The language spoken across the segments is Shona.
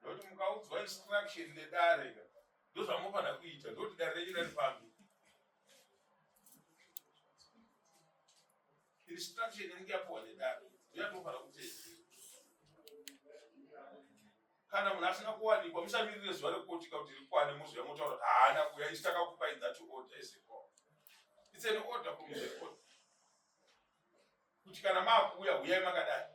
ndokuti mukaudzwa instruction nedare ka ndozvamunofanira kuita ndokuti dare renyu rari pambi instruction inenge yapuwa nedare ndoyatofanira kutedzera kana munhu asina kuwanikwa musamirire zuva rekukotika kuti rikwane moziva motaura kuti haana kuya isi takakupai that order is a call it's an order from the court kuti kana maakuuya huyai makadai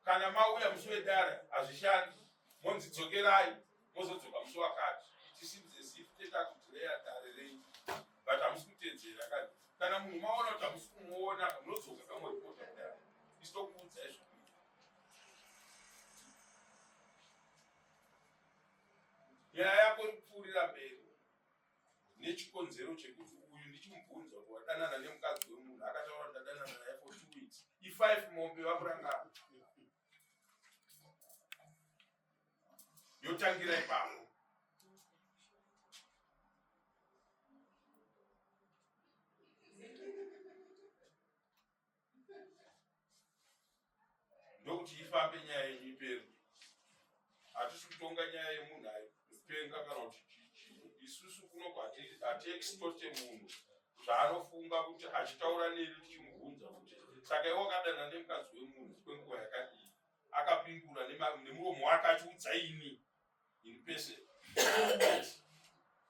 kana mauya musi wedare hazvishandi monzi dzokerai mozodzoka musi wakati it seems as if tete akudireya dare renyu but hamusi kutedzera kani kana munhu maona kuti hamusi kumuona ka munodzoka kamoripota kudaro isitokuudzai zvo nyaya yako iri kupfuurira mberi nechikonzero chekuti uyu ndichimubvunza kuti wadanana nemukadzi wemunhu akataura kuti ndadanana naye for two weeks ifive mombe vamurangana yotangira ipapo ndokuti ifambe nyaya yenyu iperi hatisi kutonga nyaya yemunhu ayo mupenga kana kuti chichii isusu kunoko hatiextote munhu zvaanofunga kuti achitaura neni tichimubvunza kuti saka iwe wakadana nemukadzi wemunhu kwenguva yakadii akapindura nemuromo wake achiudza ini in person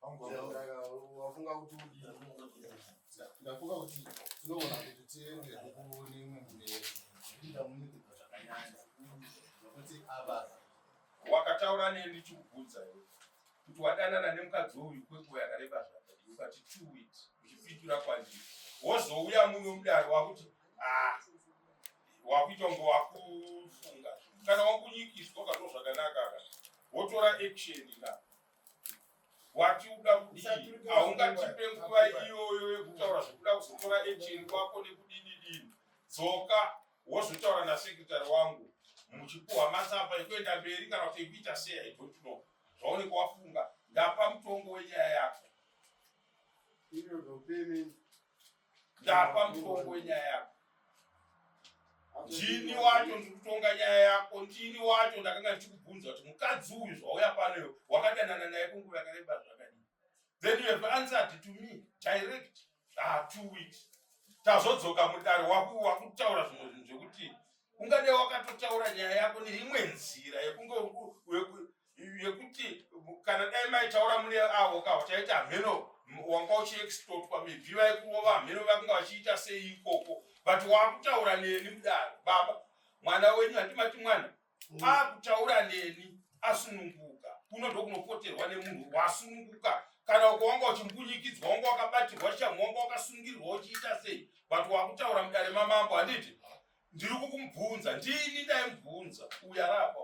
wafunga kuti ndafunga kuti tinogona kuti tiende kukuone imwe mberi ndamunikidza zvakanyanya nokuti ava wakataura neni ndichikubvunza iwe kuti wadanana nemukadzi uyu kwenguva yakareba zvakadii ukati two weeks uchipitura kwandiri wozouya muno mudare wakuti ah, wakuita kunge wakufunga kana wakunyikidzwa ukatozvakanaka ka wotora action na watiuda kudii haungatipe nguva iyoyo yekutaura zvekuda kuzotora echeni kwako nekudididini dzoka wozotaura nasekretary wangu muchipuhwa matsamba ekuenda mberi kana kuti ekuita sei i don't know zvaunenge wafunga ndapa mutongo wenyaya yako ndapa mutongo wenyaya yako ndini wacho ndikutonga nyaya yako ndini wacho ndakanga ndichikubvunza kuti mukadzi uyu zvauya panoyo wakadanana naye kunguva yakareba zvakadii then you have answered to me direct ah two weeks tazodzoka mudare wakutaura zvimwe zvinhu zvekuti ungade wakatotaura nyaya yako neimwe nzira yekunge yekuti kana dai maitaura mune avo ka uchaita hameno wanga uchiexplotwa mibvi vaikurova hameno vakunga vachiita sei ikoko but wakutaura neni mudaro baba mwana wenyu handimati mwana mm. akutaura neni asununguka kuno ndokunopoterwa nemunhu wasununguka kana ukawanga uchimbunyikidzwa wanga wakabatirwa chamhu wanga wakasungirirwa uchiita sei but wakutaura mudare mamambo handiti ndiri kukumubvunza ndini ndaimubvunza uya rapa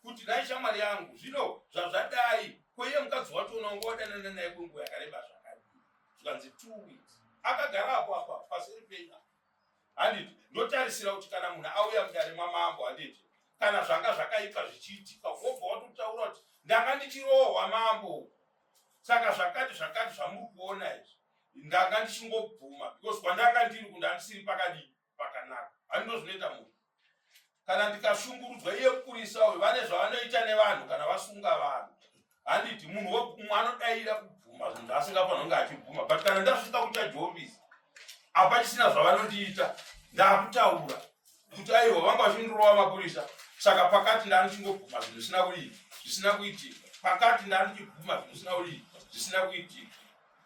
kuti dai shamwari yangu zvino zvazvadai kweiye mukadzi wacho unonga wadanana naye kwenguva yakareba zvakadii zvikanzi two weeks akagara apo apa paseri penya handiti ndotarisira kuti kana munhu auya mudare mwamambo handiti kana zvanga zvakaipa zvichiitika wobva watotaura kuti ndanga ndichirohwa mambo saka zvakati zvakati zvamuri kuona izvi ndanga ndichingobvuma because kwandanga ndiri kundandisiri pakadii pakanaka ani ndozvinoita munhu kana ndikashungurudzwa iye mukurisa uyu vane zvavanoita nevanhu kana vasunga vanhu handiti munhu wekumwe anodaira kubvuma zvinhu zvaasingafanira kunge achibvuma but kana ndasvika kuchajovisi apachisina zvavanondiita ndakutaura kuti aiwa vanga vachindirova mapurisa saka pakati ndanichingobvuma zvinhu zvisina kuii zvisina kuitika pakati ndanichibvuma zvinhu zvisina kuii zvisina kuitika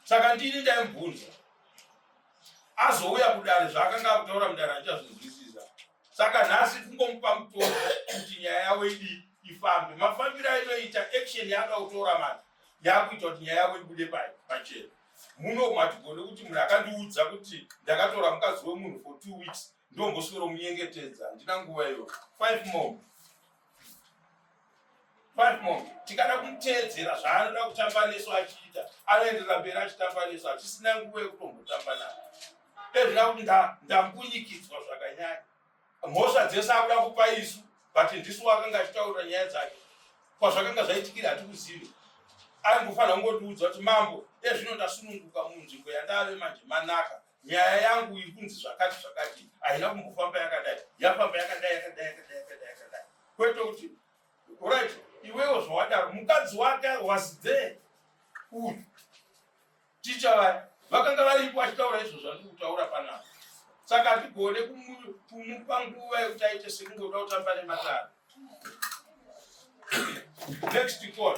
saka ndini ndaimubvunza azouya kudare zvaakanga akutaura mudare achazvinzwisisa saka nhasi kungomupa mutoro kuti nyaya yavo idii ifambe mafambiro ainoita action yaanga kutora mati yakuita kuti nyaya yavo ibude pachena muno matigone kuti munhu akandiudza kuti ndakatora mukadzi wemunhu for two weeks ndomboswero munyengetedza handina nguva iyo five more tikada kumuteedzera zvaanoda kutamba nesu achiita anoenderera mberi achitamba nesu hatisina nguva yekutombotamba navo ezvina kuti ndambunyikidzwa zvakanyanya mhosva dzese akuda kupa isu but ndisu wakanga achitaurira nyaya dzake kwazvakanga zvaitikira hatikuzivi aingofanira kungotiudza kuti mambo ezvino ndasununguka munzvimbo yandave manje manaka nyaya yangu ikunzi zvakati zvakati haina kumbofamba yakadai yafamba yakadai yakadai yakadai yakadai yakadai kwete kuti right iwewo zvawadaro mukadzi wake was there uyu ticha vaya vakanga varipo achitaura izvo zvandiri kutaura panapa saka hatigone kumupa nguva yekuti aite sekungoda kutamba nematara next call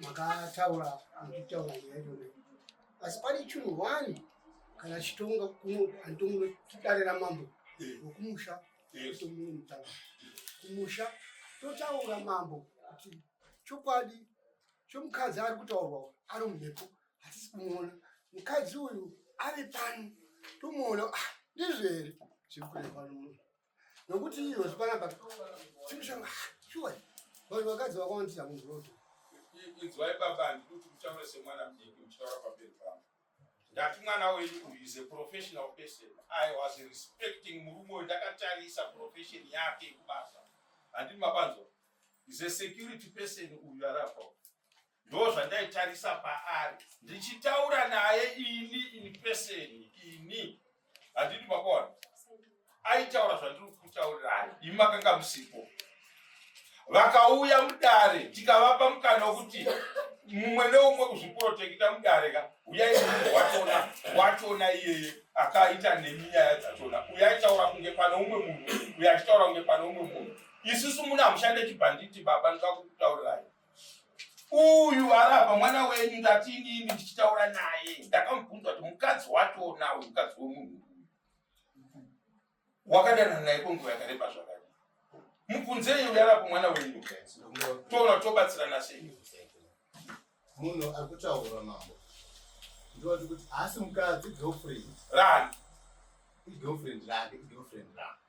makataura muchitaura nyaya yona asi pane chinhu one kana chitonga kuno andomunotidarira mambo wekumusha tomuno mutaura kumusha totaura mambo kuti chokwadi chomukadzi ari kutaurwa ari mumhepo hatisi kumuona mukadzi uyu ari pano tomuona ah, ndizvere zviri kureva nomunhu nokuti iyo zvipanapa chimushanga shuwa vanhu vakadzi vakawandisa munhuroto inzwai baba handidi kuti mutaure semwana mdiki muchitaura pamberi pangu ndati mwana wenyu uyu is a professional person i was respecting murume uyu ndakatarisa profession yake kubasa handini mabanzwa is a security person uyu arapa ndo zvandaitarisa paari ndichitaura naye ini ini peseni ini handidi makona aitaura zvandiri kutaurirai imi makanga musipo vakauya mudare tikavapa mukana wekuti mumwe neumwe kuzviprotekita mudare ka uyai watona watona iyeye akaita nemi nyaya dzatona uyaitaura kunge pane umwe munhu uyachitaura kunge pane umwe munhu isusu muna mushande chibhanditi baba ndikakukutaurirai uyu arapa mwana wenyu ndati inini ndichitaura naye ndakamubvunza kuti mukadzi watonawo mukadzi wemunhu wakadana naye kwenguva yakareba zvakadi mubvunzei uyu arapa mwana wenyu toona tobatsirana sei munhu ari kutaura mambo ndivati kuti haasi mukadzi girlfriend rani igirlfriend rake igirlfriend rake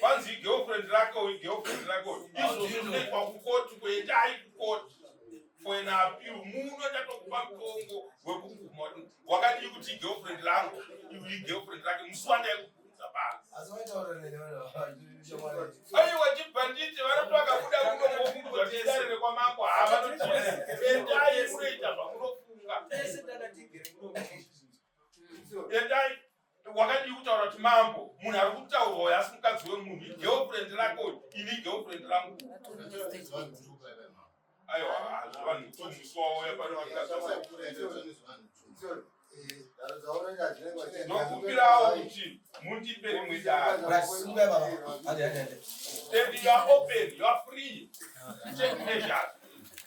kwanzi igirlfriend rake uyu girlfriend rake uyu izvo zvinoitwa kukoti kuendai kukoti for an appeal muno ndatokupa mutongo wekuguma wakadii kuti igirlfriend rangu iu igirlfriend rake musi wandaikubvunza paaiwa chibhanditi vanoti vakabuda muno mokumbwa chidare rekwamambo havanotiendai munoita zvamunofunga endai wakadii kutaura kuti mambo munhu ari kutaurwa uyo asi mukadzi wemunhu igirlfriend rako ini igirlfriend rangu aiwa hazvivanhu tumuswauya pano nokupirawo kuti mundipe rimwe daaopen yoafree chemeasures